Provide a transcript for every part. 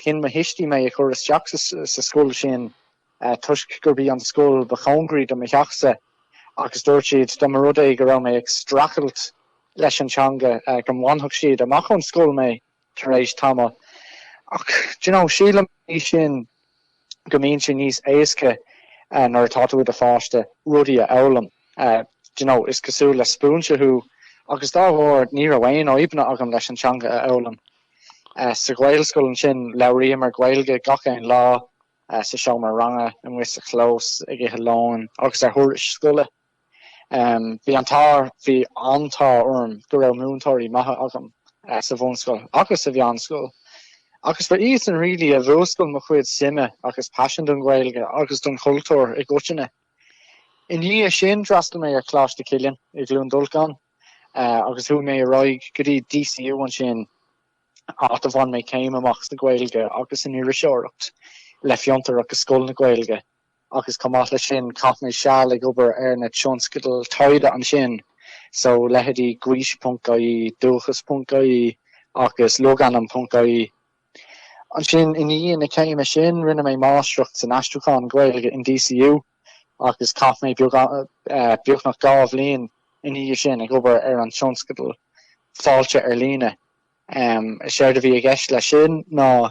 Chinn mo thuistí mé a chur isteach sa scoil sin toisc gurb í an scoil ba chóngaraí do mo theach-sa agus dúirt siad, dá mba rud é go raibh mé ag streachailt leis an teanga, go mbainfeadh siad amach ón scoil mé tar éis tamaill. Ach, do you know, síleann mé féin. go mbíonn sé níos éasca nuair atá tú i do pháiste rudaí a fhoghlaim, you know, is cosúil le spúinse thú agus dá bharr ní raibh aon fhadhbanna agam leis an teanga a fhoghlaim. Sa Ghaelscoil ansin labhraíomar Gaeilge gach aon lá, sa seomra ranga, amuigh sa chlós, ag ithe lóin agus ar thurais scoile. Bhí an t-ádh, bhí an t-ádh orm go raibh múinteoirí maithe agam sa bhunscoil agus sa mheánscoil agus ba iadsan really a mhúscail mo chuid suime agus paisean don Ghaeilge agus don chultúr i gcoitinne. I ndiaidh sin, d'fhreastail mé ar Choláiste Chilliain i gCluain Dolcáin agus chuaigh mé ar aghaidh go dtí DCU ansin, áit a bhain mé céim amach sa Ghaeilge agus san Iriseoireacht le Fiontar agus Scoil na Gaeilge. agus chomh maith leis sin, chaith mé seal ag obair ar na tionscadail taighde ansin, so leithéidí Gaois.ie, Dúchas.ie agus Logainm.ie. Ansin, i ndiaidh na céime sin, rinne mé Máistreacht san Aistriúchán Gaeilge in DCU, agus chaith mé beagnach dhá bhliain ina dhiaidh sin ag obair ar an tionscadal Fáilte ar Líne. Séard a bhí i gceist leis sin ná.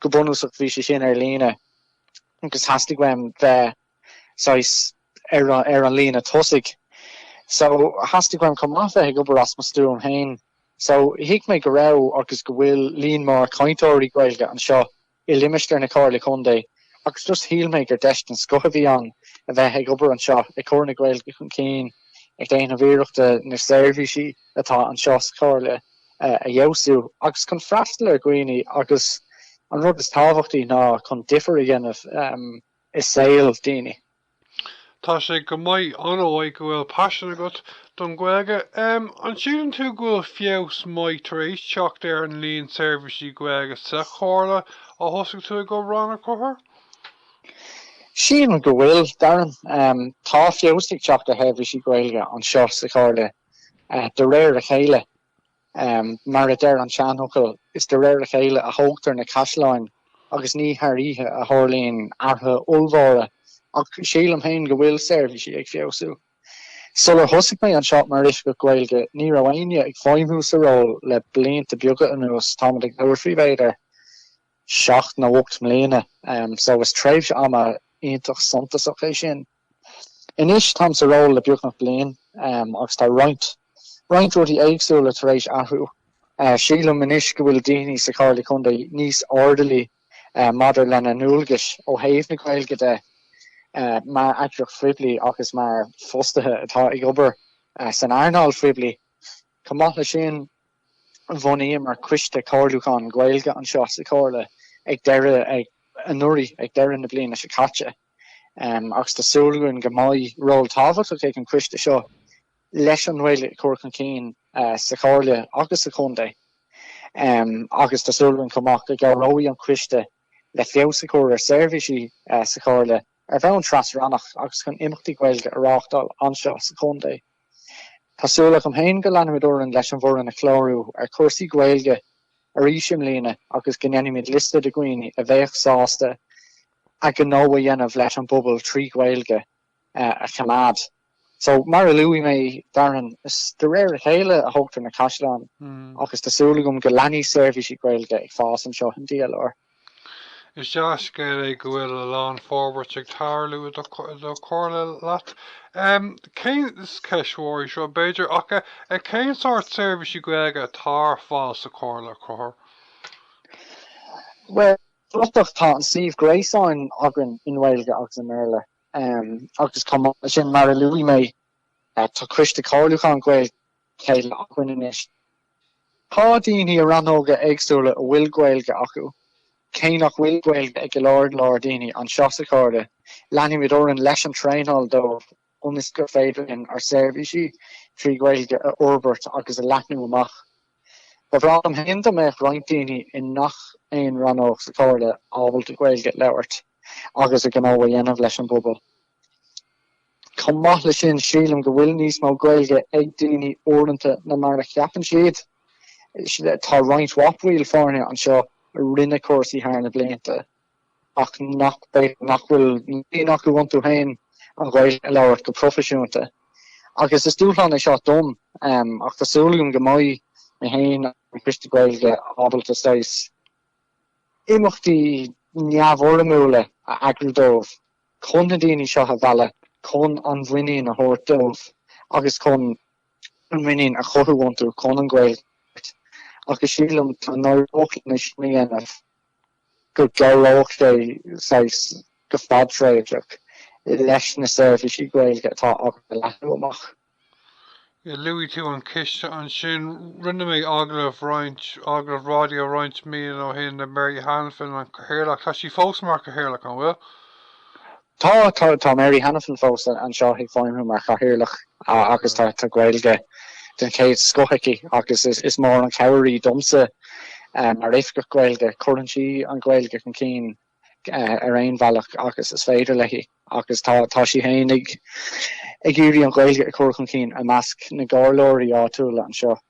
Go bunúsach bhí sé sin ar líne agus theastaigh uaim bheith saghas ar an líne tosaigh so theastaigh uaim chomh maith bheith ag obair as mo stuaim féin. So thuig mé go raibh agus go bhfuil líon mór cainteoirí Gaeilge anseo i limistéar na Comhairle Contae agus just shíl mé gur deis den scoth a bhí ann a bheith ag obair anseo ag cur na Gaeilge chun cinn, ag déanamh iarrachta na seirbhísí atá anseo sa Chomhairle. a fheabhsú agus chun freastal ar dhaoine agus, an rud is tábhachtaí ná chun difear a dhéanamh i saol daoine. Tá sé go maith, ar ndóigh go bhfuil paisean agat don Ghaeilge, an síleann tú go bhfuil feabhas maith tar éis teacht ar an líon seirbhísí Gaeilge sa Chomhairle ó thosaigh tú ag obair ann? A Chathair? Sílim go bhfuil, Darren. Tá feabhas ag teacht ar sheirbhísí Gaeilge anseo sa Chomhairle de réir a chéile. Mar a deir an seanfhocal, is de réir a chéile a thógtar na caisleáin agus ní thar oíche a tharlaíonn athruithe ollmhóra, ach sílim féin go bhfuil seirbhísí ag feabhsú. Sular thosaigh mé anseo mar Oifigeach Gaeilge, ní raibh éinne ag feidhmiú sa ról le blianta beaga anuas, táimid ag labhairt faoi, b'fhéidir, seacht nó ocht mbliana, so is tréimhse ama iontach suntasach é sin. Anois táim sa ról le beagnach bliain agus tá roinnt roinnt rudaí éagsúla tar éis athrú. Sílim anois go bhfuil daoine sa Chomhairle Contae níos airdeallaí maidir lena ndualgais ó thaobh na Gaeilge de mar eagraíocht phoiblí agus mar fostaithe atá ag obair san earnáil phoiblí. Chomh maith leis sin, bhunaíomar coiste comhairliúcháin Gaeilge anseo sa Chomhairle ag deireadh anuraidh, ag deireadh na bliana seo caite. agus tá súil againn go mbeidh ról tábhachtach ag an choiste seo leis an nGaeilge a chur chun cinn sa Chomhairle agus sa Chontae agus tá súil againn chomh maith go gcabhróidh an coiste le feabhas a chur ar sheirbhísí sa Chomhairle ar bhonn tras-rannach agus chun imeachtaí Gaeilge a reáchtáil anseo sa Chontae. Tá súil agam féin go leanfaimid orainn leis an bhfoireann a chlárú ar chúrsaí Gaeilge arís i mbliana agus go ndéanfaimid liosta de dhaoine a bheadh sásta a ghnó a dhéanamh leis an bpobal trí Ghaeilge a choimeád. So, mar a luaigh mé, Darren, is de réir a chéile a thógtar na caisleáin agus tá súil agam go leanfaidh seirbhísí Gaeilge ag fás anseo in DLR. Is dea-scéal é go bhfuil a lán forbairt ag tarlú i do chomhairle leat. Cén, is ceist mhór í seo, b'fhéidir, ach cén sórt seirbhísí Gaeilge atá ar fáil sa chomhairle a Chathair? Bhuel, Bratach Tá an suíomh gréasáin againn i nGaeilge agus i mBéarla agus chomh maith leis sin, mar a luaigh mé, tá Coiste Comhairliúcháin Gaeilge le chéile againn anois. Tá daoine i rannóga éagsúla a bhfuil Gaeilge acu, cé nach bhfuil Gaeilge ag go leor leor daoine anseo sa Chomhairle, leanfaimid orainn leis an traenáil dóibh. ionas gur féidir linn ár seirbhísí trí Ghaeilge a fhorbairt agus a leathnú amach. Ba bhreá liom féin dá mbeadh roinnt daoine i ngach aon rannóg sa Chomhairle ábalta Gaeilge a labhairt agus a ngnó a dhéanamh leis an bpobal. Chomh maith leis sin, sílim go bhfuil níos mó Gaeilge ag daoine uaireanta ná mar a cheapann siad. Tá roinnt mhaith baill foirne anseo a rinne cúrsaí thar na blianta. ach nach nach bhfuil muinín acu iontu féin an Ghaeilge a labhairt go proifisiúnta. Agus is dúshlán é seo dom, ach tá súil agam go mbeidh mé féin agus an Coiste Gaeilge ábalta saghas imeachtaí neamhfhoirmiúla a eagrú dóibh chun na daoine seo a mhealladh, chun an mhuinín a thabhairt dóibh agus chun an mhuinín a chothú iontu chun an Ghaeilge a labhairt. Agus sílim go n-éireoidh linn é sin a dhéanamh. go gcabhródh sé saghas, go fadtréimhseach, leis na seirbhísí Gaeilge atá againn a leathnú amach. Luaigh tú an Coiste ansin. Rinne mé agallamh roinnt, agallamh raidió roinnt míonna ó shin le Mary Hanafin, an Cathaoirleach, tá sí fós mar Cathaoirleach, an bhfuil? Tá, tá, tá Mary Hanafin fós anseo ag feidhmiú mar chathaoirleach agus tá Gaeilge den chéad scoth aici agus is mór an chabhair í domsa mar Oifigeach Gaeilge, cuireann sí an Ghaeilge chun cinn ar aon bhealach agus is féidir léi agus tá, tá sí fhéin ag iarraidh an Ghaeilge a chur chun cinn i measc na gcomhairleoirí áitiúla anseo.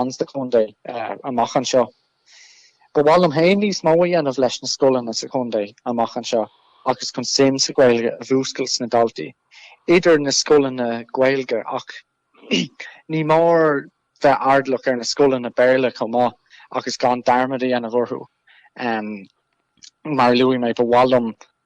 ins an chontae amach anseo. Ba mhaith liom féin níos mó a dhéanamh leis na scoileanna sa chontae amach anseo agus chun suim sa Ghaeilge a mhúscailt sna daltaí idir na scoileanna Gaeilge ach ní mór bheith airdeallach ar na scoileanna Béarla chomh maith agus gan dearmad a dhéanamh orthu. Mar a luaigh mé, ba mhaith liom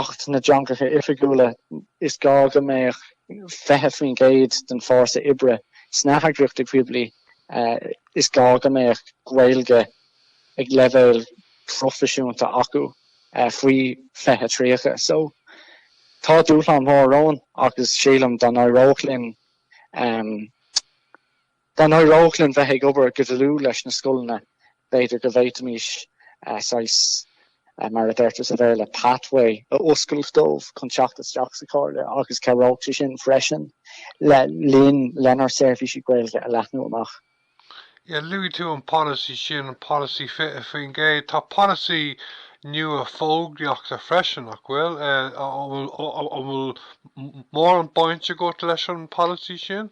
Acht na dTeangacha Oifigiúla, is gá go mbeadh 20% den bhfórsa oibre sna heagraíochtaí poiblí, is gá go mbeadh Gaeilge ag leibhéal proifisiúnta acu faoi 2030. So tá dúshlán mór romhainn agus sílim dá n-éireodh linn Dá n-éireodh linn bheith ag obair go dlúth leis na scoileanna, b'fhéidir go bhféadfaimis saghas, mar a deirtear sa Bhéarla, pathway a oscailt dóibh chun teacht isteach sa Chomhairle agus chabhródh sé sin freisin linn lenár seirbhísí Gaeilge a leathnú amach. Yeah, luaigh tú an polasaí sin, an polasaí 20%. Tá polasaí nua fógraíochta freisin, nach bhfuil? An bhfuil mórán baint agat leis an bpolasaí sin?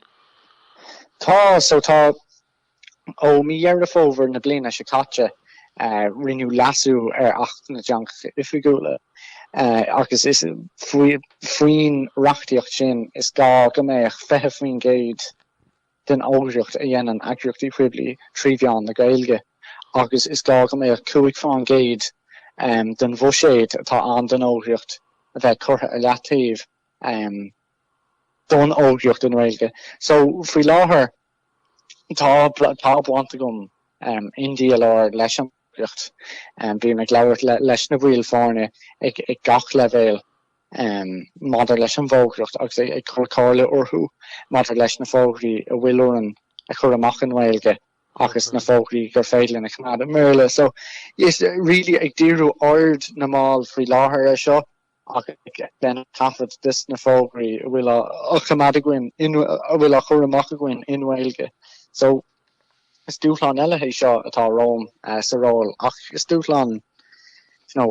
Tá so, tá. Ó mí Dheireadh Fómhair na bliana seo caite rinneadh leasú ar Acht na dTeangacha Oifigiúla agus is faoin reachtaíocht sin is gá go mbeadh 20% den fhógraíocht a dhéanann eagraíochtaí poiblí trí mheán na Gaeilge agus is gá go mbeadh 5 faoin gcéad den bhuiséad atá ann don fhógraíocht a bheith curtha ar leataobh don fhógraíocht i nGaeilge. So, faoi láthair, tá tá baint agam in DLR leis an bhfógraíocht. Bím ag labhairt leis na baill foirne ag ag gach leibhéal maidir leis an bhfógraíocht agus ag ag cur comhairle orthu maidir leis na fógraí a bhfuil orainn a chur amach i nGaeilge agus na fógraí gur féidir linn a choimeád i mBéarla. So, yes, really ag díriú aird na mball faoi láthair ar seo. ag coimeád taifead de sna fógraí a bhfuil á choimeád againn, a bhfuil á chur amach againn i nGaeilge. So, is dúshlán eile é seo atá romham sa ról ach is dúshlán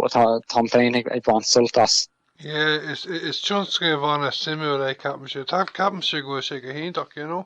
atá tá mé féin ag baint sult as. Is tionscnamh an-suimiúil é, ceapaimse. Ceapaimse go bhfuil sé go hiontach, you know.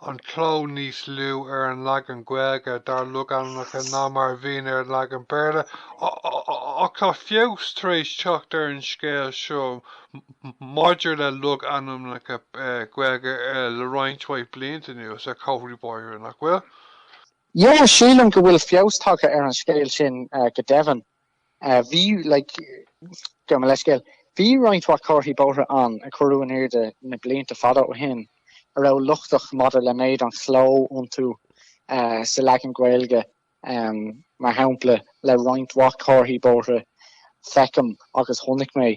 an cló níos lú ar an leagan Gaeilge dár logainmneacha ná mar a bhíonn ar an leagan Béarla, ach tá feabhas tar éis teacht ar an scéal seo maidir le logainmneacha Gaeilge le roinnt mhaith blianta anuas, ar chomharthaí bóithre, nach bhfuil? Yeah, sílim go bhfuil feabhas tagtha ar an scéal sin go deimhin. Bhí, like, gabh mo leithscéal, bhí roinnt mhaith comharthaí bóithre ann ar cuireadh in airde na blianta fada ó shin a raibh lochtach maidir le méid an chló iontu sa leagan Gaeilge, mar shampla le roinnt mhaith comharthaí bóithre feicim agus chonaic mé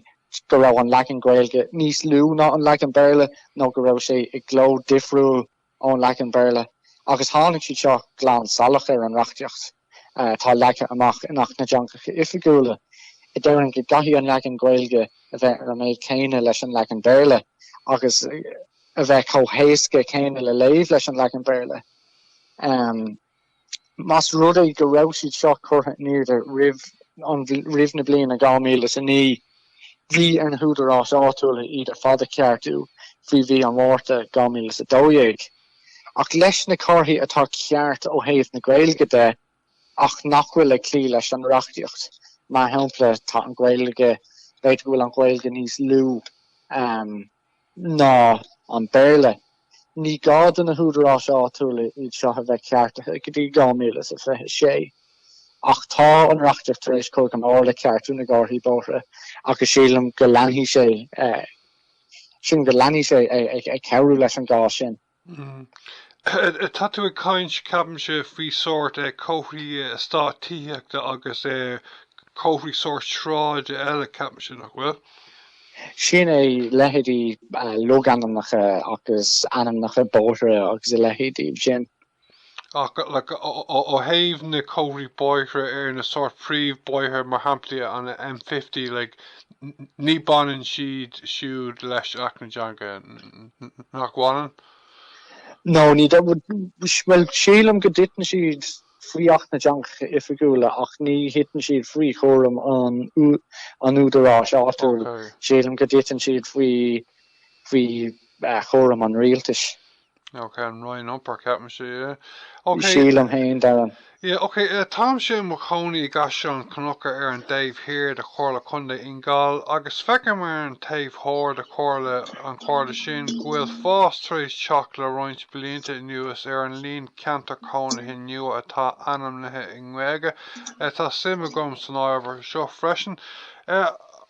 go raibh an leagan Gaeilge níos lú ná an leagan Béarla nó go raibh sé i gcló difriúil. ón leagan Béarla, agus tháinig siad seo glan salach ar an reachtaíocht atá leagtha amach in Acht na dTeangacha Oifigiúla, a deireann go gcaithfidh an leagan Gaeilge a bheith ar an méid céanna leis an leagan Béarla agus a bheith chomh héasca céanna le léamh leis an leagan Béarla. más rud é go raibh siad seo curtha in airde roimh na bliana 2009, bhí ar na húdaráis áitiúla iad ar fad a cheartú faoi mhí an Mhárta 2012. Ach leis na comharthaí atá ceart ó thaobh na Gaeilge de ach nach bhfuil ag cloí leis an reachtaíocht, mar shampla, tá an Ghaeilge, b'fhéidir go bhfuil an Ghaeilge níos lú. ná an Béarla. Ní gá do na húdaráis áitiúla iad seo a bheith ceartaithe go dtí 2026. Ach tá an reachtaíocht tar éis cur go mór le ceartú na gcomharthaí bóithre agus sílim go leanfaidh sé, sílim go leanfaidh sé ag cabhrú leis an gcás sin. Hm. Tá tú ag caint, ceapaimse, faoi sórt comharthaí eastáit tithíochta agus comharthaí sórt sráide eile, ceapaimse, nach bhfuil? Sin é, leithéidí logainmneacha agus ainmneacha bóithre agus a leithéidí sin. ach ó thaobh na comharthaí bóithre ar na sórt príomhbhóithre mar shampla an M50 like ní baineann siad siúd leis Acht na dTeangacha, nach bhaineann? No, ní Bhuel, sílim go dtiteann siad faoi Acht na dTeangacha Oifigiúla ach ní thiteann siad faoi chúram an an údaráis áitiúil, sílim go dtiteann siad faoi faoi chúram an rialtais. Ok, an Roinn Iompair ceapaimse. Ok. Sílim féin, Darren. Yeah, ok, uh, táimse i mo chónaí i gCaisleán Cnucha ar an dtaobh thiar de Chomhairle Contae Fhine Gall agus feicim ar an taobh thoir de Chomhairle an Chomhairle sin go bhfuil fás tar éis teacht le roinnt blianta anuas ar an líon ceantar cónaithe nua atá ainmnithe i nGaeilge. Uh, tá suim agam san ábhar seo freisin. Uh,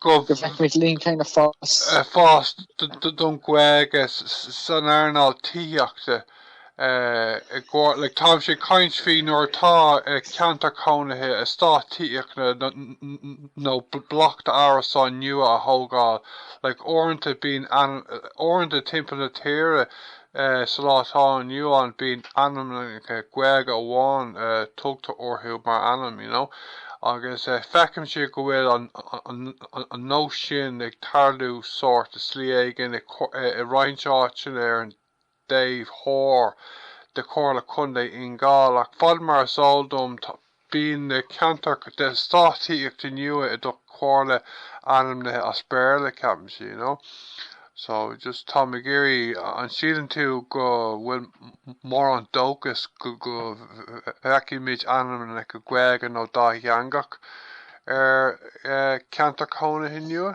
go bhfeicfimid líon céanna fás, fás don Ghaeilge san earnáil tithíochta i gCorcaigh. Táimse ag caint faoi nuair atá ceantar cónaithe eastát tithíochta nó bloc d'árasáin nua á thógáil. Uaireanta bíonn, uaireanta timpeall na tíre, Sa lá atá inniu ann bíonn ainmneacha Gaeilge amháin tugtha orthu mar ainm, you know, agus feicimse go bhfuil an nós sin ag tarlú sórt i slí éigin i roinnt áiteanna ar an dtaobh thoir de Chomhairle Contae Fhine Gall ach fad mar is eol dom Bíonn na ceantair d'eastáit tithíochta nua i do Chomhairle ainmnithe as Béarla, ceapaimse, you know. So, just táim ag iarraidh, an síleann tú go bhfuil mórán dóchas go bhfeicfimid ainmneacha Gaeilge nó dátheangach ar ceantair cónaithe nua?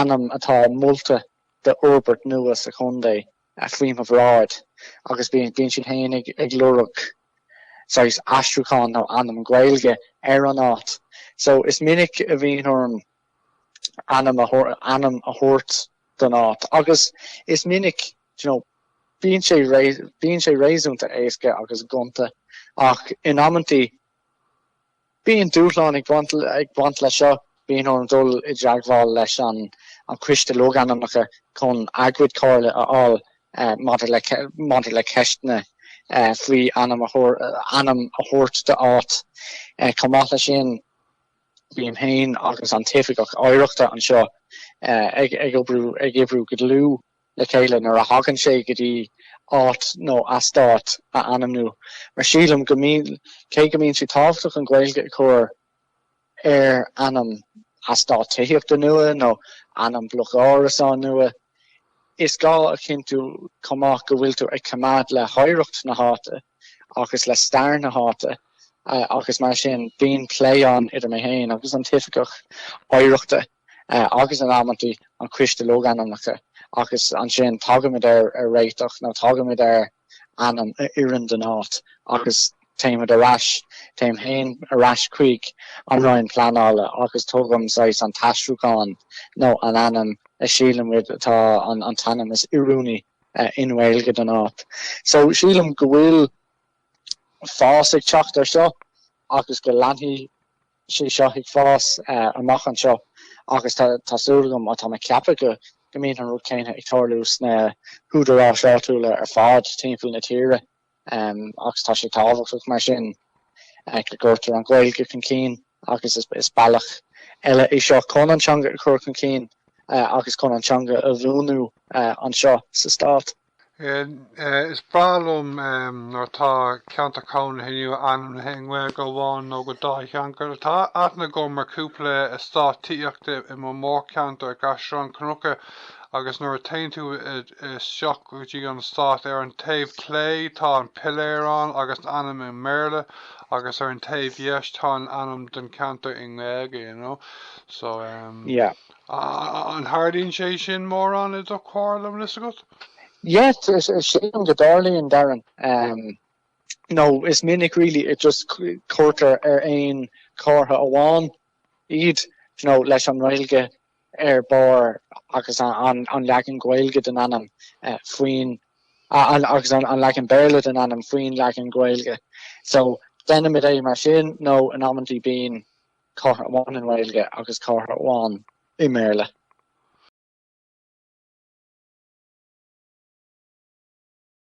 ainm atá molta d'fhorbairt nua sa chontae faoi mo bhráid agus bíonn siad féin ag lorg saghas aistriúcháin nó ainm Gaeilge ar an áit so is minic a bhíonn orm ainm ainm a thabhairt don áit agus is minic you know bíonn sé bíonn sé réasúnta éasca agus gonta ach in amantaí Bíonn dúshlán ag baint leis seo. Bíonn orm dul i dteagmháil leis an Coiste Logainmneacha chun a gcuid comhairle a fháil maidir le ceisteanna faoi ainm a thabhairt d'áit. Chomh maith leis sin, bím féin agus an tOifigeach Oidhreachta anseo ag oibriú go dlúth. le chéile nuair a thagann sé go dtí áit nó eastát a ainmniú, mar sílim go mbíonn, cé go mbíonn sé tábhachtach an Ghaeilge a chur ar ainm eastáit tithíochta nua nó ainm bloc árasán nua, is gá a chinntiú chomh maith go bhfuil tú ag coimeád le hoidhreacht na háite agus le stair na háite agus mar sin bíonn plé ann idir mé féin agus an t-oifigeach oidhreachta. agus in amantaí an Coiste Logainmneacha, agus ansin tagaimid ar réiteach nó tagaimid ar ainm a oireann don áit agus téimid ar ais, téim féin ar ais chuig an Roinn Pleanála agus tugaim saghas an t-aistriúchán nó an ainm a shílimid atá an t-ainm is oiriúnaí i nGaeilge don áit. So sílim go bhfuil fás ag teacht ar seo agus go leanfaidh sé seo ag fás amach anseo agus tá súil agam, tá mé ag ceapadh, go mbíonn an rud céanna ag tarlú sna húdaráis áitiúla ar fad timpeall na tíre agus tá sé tábhachtach mar sin go gcuirtear an Ghaeilge chun cinn agus is bealach eile é seo chun an teanga a chur chun cinn agus chun an teanga a bhuanú anseo sa Stát. Is breá liom nuair atá ceantar cónaithe inniu ainmnithe i nGaeilge amháin nó go dátheangach. Tá aithne agam ar chúpla eastát tithíochta i mo mhórcheantar i gCaisleán Cnucha agus nuair a théann tú isteach go dtí an eastát, ar an taobh clé tá an piléar ann agus an ainm i mBéarla agus ar an taobh dheis tá an ainm den ceantar i nGaeilge, you know. So, yeah. An dtarlaíonn sé sin mórán i do chomhairle, an bhfuil a fhios agat? Yes, sílim go dtarlaíonn, Darren. Nó is minic really just cuirtear ar aon chomhartha amháin iad, you know, leis an nGaeilge ar barr agus an leagan Gaeilge den ainm faoin, agus an leagan Béarla den ainm faoin leagan Gaeilge. So, déanaimid é mar sin nó in amantaí bíonn. Comhartha amháin i nGaeilge agus comhartha amháin i mBéarla.